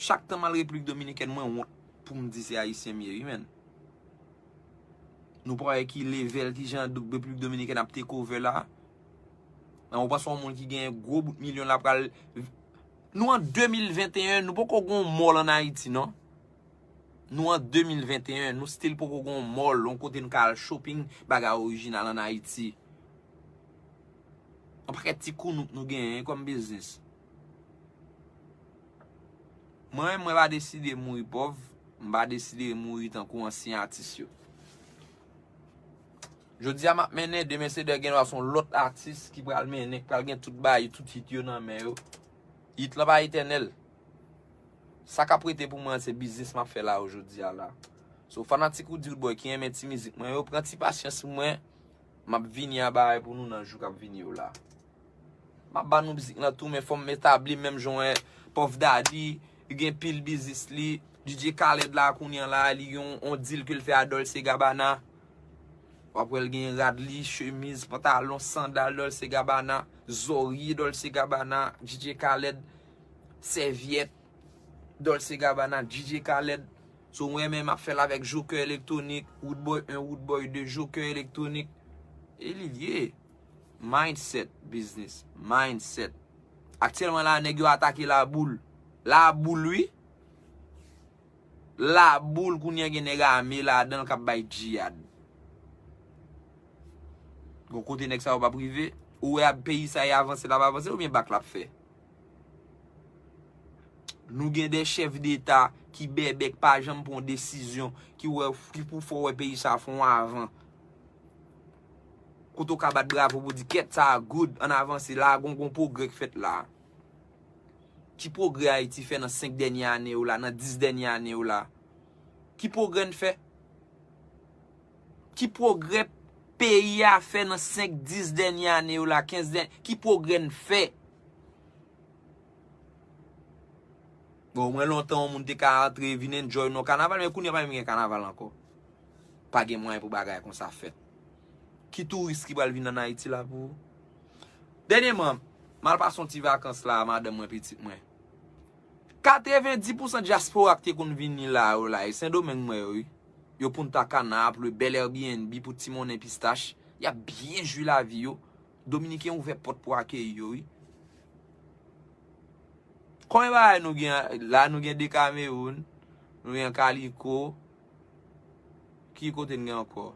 Chak tan mal repiblik dominikèn mwen wont poum di se ayisyen m ye wi menn. Nou pa wè ki level kijan repiblik dominikèn ap take over la. Nan ou panse yon moun ki gen gwo bout milyon la pral Nou an 2021 nou poko gon mall an ayiti non. Nou an 2021 nou still poko gon mall yon kote nou ka al shopping bagay orijinal an ayiti. Yon pakèt ti kounouk nou genyen kom biznis. Mwen menm mwen pa deside mouri pòv, m pa deside mouri tankou ansyen atis yo. Jodi a m ap mennen, demen se dè gendwa se yon lòt atis ki pral mennen, ki pral gen tout baay, tout hit yo nan men yo. Hit lan pa etènèl. Sa k ap rete pou mwen an se biznis m ap fè la yo jodi a la. So fanatik Roody Rudeboy ki renmen ti mizik mwen yo, pran ti pasyans mwen. M ap vini a bagay pou nou nan jou k ap vini yo la. M ap ba nou mizik lan tou men fò m etabli m menm jan w wè Puff Daddy li gen pil biznis li. DJ Khaled la kounye an la li gen yon deal ke l fè a Dolce Gabbana. W ap wè l gen rad li, chemiz, pantalon, sandal Dolce Gabbana, zòrye Dolce Gabbana, DJ Khaled, sèvyèt. Dolce Gabbana, DJ Khaled, so mwen menm ap fèl avèk Joker Electronic, Roodboy 1, Roodboy 2, Joker Electronic, e li lye. Mindset business, mindset. Aktyèlman la nèg yo atake La Boule. La Boule wi. La Boule kounyè gen nèg ame ladanl kap bay djiyad. Gon kote nèg sa yo pap rive? Ou wè a peyi sa e avanse lap avanse oubyen bak lap fè? Nou gen 2 chèf deta ki bèbè ki pa janm pran yon desizyon ki wè ki pou fè w wè peyi sa fè yon avan. Kote ou ka bat bravo pou di kèt sa good ann avanse la gon gon pwogrè k fèt la. Ki pwogrè Ayiti fè nan 5 dènye ane yo la, nan 10 dènye ane yo la? Ki pwogrè n fè? Ki pwogrè peyi a fè nan 5, 10 dènye ane yo la, 15 dènye, ki pwogrè n fè? Bon mwen lontan yon moun te ka antre vin enjoy non kanaval men kounye pa menm gen kanaval ankò. Pa gen mwayen pou bagay kon sa fèt. Ki touris ki pral vin an Ayiti la pou. Dènye man, mal pa son ti vakans la a madan mwen pitit mwen. Katreven di pousan diaspora ki te konn vini la yo la e sendomeng mwen yo wi. Yo punta cana ap lwe bèl airbnb pou ti monnen pistach. Yap byen jwi lavi yo. Dominiken ouvè pòt pou akeyi yo wi. Konbyen bagay nou gen la nou gen dekamewoun nou gen kaliko ki kote nou gen ankò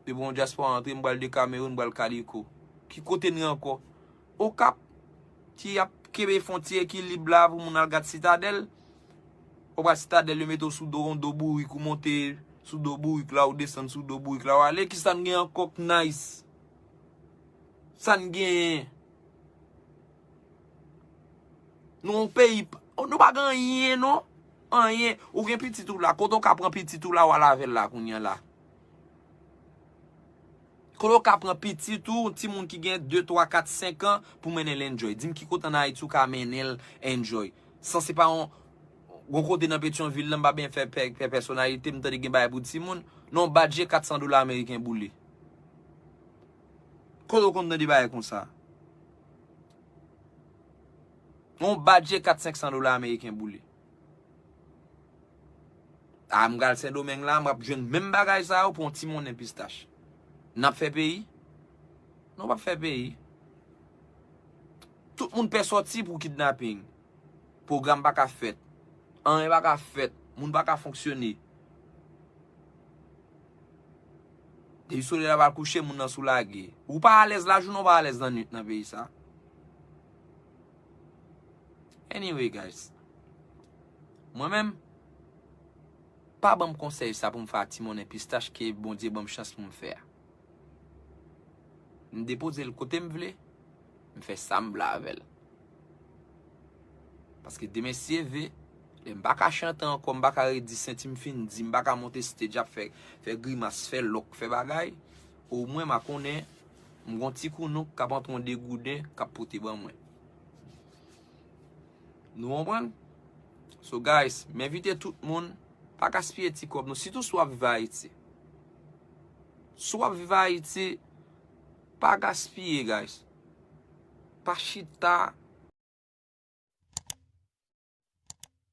depi yon dyaspora antre m pral dekamewoun m pral kaliko ki kote nou gen ankò okap ki ap kenbe fon ti ekilib la pou moun al gad sitadèl. Ou pral sitadèl yo mete w sou do yon do bourik ou monte sou do bourik la ou desann sou do bourik la ou ale kisa n gen ankò k nice sa n genyen nou yon peyi nou pa gen anyen non anyen ou gen pitit ou la kote ou ka pran pitit ou la ou al avè l la kounye an la Koman ou ka pran pitit ou, ti moun ki gen 2, 3, 4, 5 an, pou mennen l enjoy? Di m ki kote an Ayiti ou ka mennen l enjoy? San se pa yon, yon kote nan Petyonvil lan, m pa byen fè pè, fè pèsonalite, m tande gen bagay pou ti moun. Non badje 400 dola ameriken boule. Kote ou konn tande bagay konsa? Yon badje 4, 500 dola ameriken boule. Ah m pral sendomeng la map jwenn menm bagay sa yo pou yon ti monnen pistach nap fè peyi nou pap fè peyi tout moun pè sòti pou kidnaping pwogram paka fèt anyen paka fèt moun paka fonksyone depi solèy la pral kouche moun nan sou lage ou pa alèz lajounen ou pa alèz lannwit nan peyi sa. Anyway guys. Mwen menm. Pa banm konsèy sa poum fè a ti monnen pistach ke Bondye banm chans poum fè a. M depozel kotem vle. M fè sam vle avèl. Paske demen si Dieu veut. Lè m paka chante ankò m paka redi senti m fin di m paka monte stage ap fè grimas fè lòk fè bagay. O mwen ma konnen m gon ti kounouk kap antre yon degouden kap pote ban mwen. Nou konprann? So guys, m envite tout moun pa gaspiye ti kòb nou sitou si w ap viv Ayiti. Si w ap viv Ayiti, pa gaspiye guys. Pa chita.